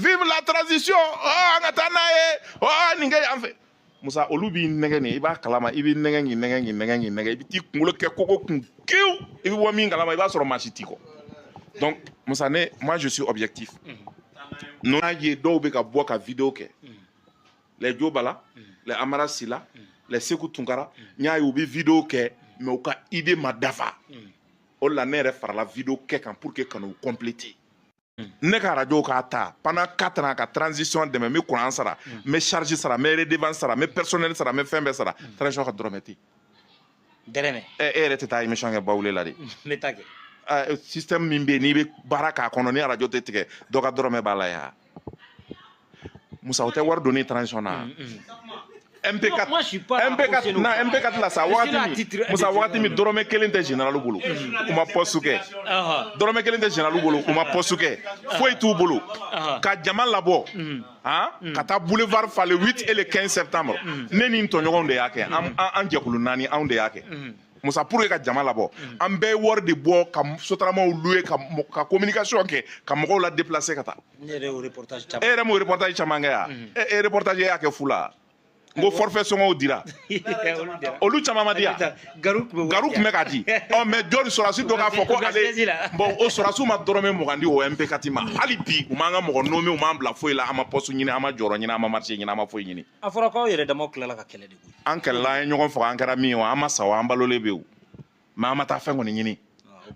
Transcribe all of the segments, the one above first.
vive la transition oh, an ka taa n'a ye oh, nin kɛ yan fɛ musa olu b'i nɛgɛ nin i b'a kalama i b'i nɛgɛ k'i nɛgɛ k'i nɛgɛ k'i nɛgɛ i bɛ t'i kunkolo kɛ koko kun kewu i bɛ bɔ min kalama i b'a sɔrɔ maa si t'i kɔ donc musa ne moi je suis objectif n y'a ye dɔw bɛ ka bɔ ka video kɛ les jo bala les amara sila les seku tunkara n y'a ye u bɛ video kɛ mais u ka idée ma dafa o de la ne yɛrɛ farala video kɛ kan pour que ka n'u compléter ne ka arajo k'a ta pendant 4 ans ka transition dɛmɛ n bɛ kuran sara n bɛ charge sara n bɛ redevance sara n bɛ personnel sara n bɛ fɛn bɛɛ sara transition ka dɔrɔmɛ tɛ dɛrɛmɛ ɛ e yɛrɛ tɛ taa émission kɛ bawule la de n bɛ taa kɛ ɛ, système min bɛ yen n'i bɛ baara k'a kɔnɔ ni arajo tɛ tigɛ dɔ ka dɔrɔmɛ b'a la yan Musa o tɛ wari donni transition na MP4 moi, je suis pas MP4 non MP4 la sa wagati min Musa wagati min dɔrɔmɛ kelen tɛ généralw bolo u ma poste kɛ dɔrɔmɛ kelen tɛ généralw bolo u ma poste kɛ foyi t'u bolo ka jama labɔ han ka taa boulevard fa le 8 et le 15 septembre ne ni n tɔɲɔgɔnw de y'a kɛ an jɛkulu naani anw de y'a kɛ musa pour que ka jama labɔ an bɛɛ ye wari de bɔ ka sotaramaw louer ka communication kɛ ka mɔgɔw la déplacer ka taa e yɛrɛ m'o reportage caman kɛ yan e e reportage y'a kɛ fu la n ko forfait sɔngɔw dira olu caman ma di yan garu tun bɛ ka di ɔ mais jɔni sɔrɔdasi dɔ k'a fɔ ko ale bon o sɔrɔdasiw ma dɔrɔmɛ mugan di o MP4 ma hali bi u m'an ka mɔgɔ nommer u m'an bila foyi la an ma poste ɲini an ma jɔyɔrɔ ɲini an ma marché ɲini an ma foyi ɲini a fɔra k'aw yɛrɛ damaw tilala ka kɛlɛ de koyi an kɛlɛla an ye ɲɔgɔn faga an kɛra min ye o an ma sa o an balolen bɛ o mais an ma taa fɛn kɔni ɲini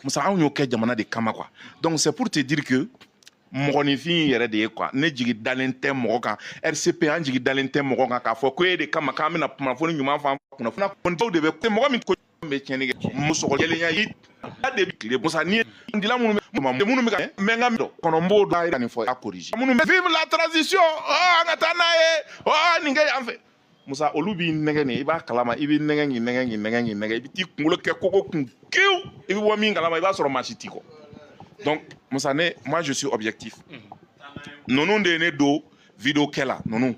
musa anw y'o kɛ jamana de kama quoi donc c'est pour te dire que mɔgɔninfin yɛrɛ de ye quoi ne jigi dalen tɛ mɔgɔ kan rcp an jigi dalen tɛ mɔgɔ kan k'a fɔ ko e de kama k'an bɛna kunnafoni ɲuman fɔ an kunnafoni kɔnitaw de bɛ mɔgɔ min ko bɛ tiɲɛni kɛ musɔgɔjɛlenya i da de bɛ tile musa ni dila minnu bɛ minnu bɛ ka mɛ n ka dɔn kɔnɔ n b'o dɔn a yira nin fɔ a koriji minnu bɛ vive la transition ɔ an ka taa n'a ye ɔ nin kɛ yan fɛ musa olu b'i nɛgɛ nin i b'a kalama i b'i nɛgɛ k'i nɛgɛ k'i nɛgɛ k'i nɛgɛ i bɛ t'i kunkolo kɛ koko kun kewu i bɛ bɔ min kalama i b'a sɔrɔ maa si t'i kɔ donc musa ne moi je suis objectif ninnu de ye ne don video kɛ la ninnu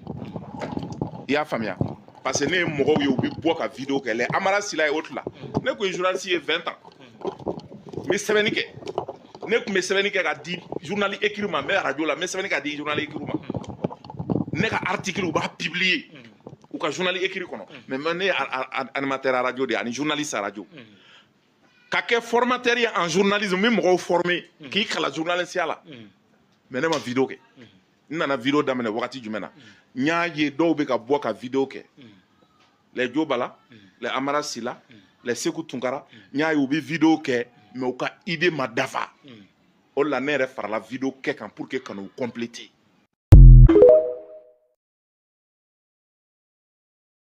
i y'a faamuya parce que ne ye mɔgɔw ye u bɛ bɔ ka video kɛ les amara sila ye o tila ne tun ye journaliste ye 20 ans n bɛ sɛbɛnni kɛ ne tun bɛ sɛbɛnni kɛ ka di journal écrit ma n bɛ arajo la n bɛ sɛbɛnni ka di journal écrit ma ne ka article u b'a publier u ka journal écrit kɔnɔ mais ne ye animateur arajo de ye ani journaliste arajo ka kɛ formateur ye en journalisme n bɛ mɔgɔw former k'i kalan journalisiya la mais ne ma video kɛ n nana video daminɛ wagati jumɛn na n y'a ye dɔw bɛ ka bɔ ka video kɛ les jo bala les amara sila les seku tunkara n y'a ye u bɛ vidéo kɛ mais u ka idée ma dafa o la ne yɛrɛ farala vidéo kɛ kan pour que ka n'u compléter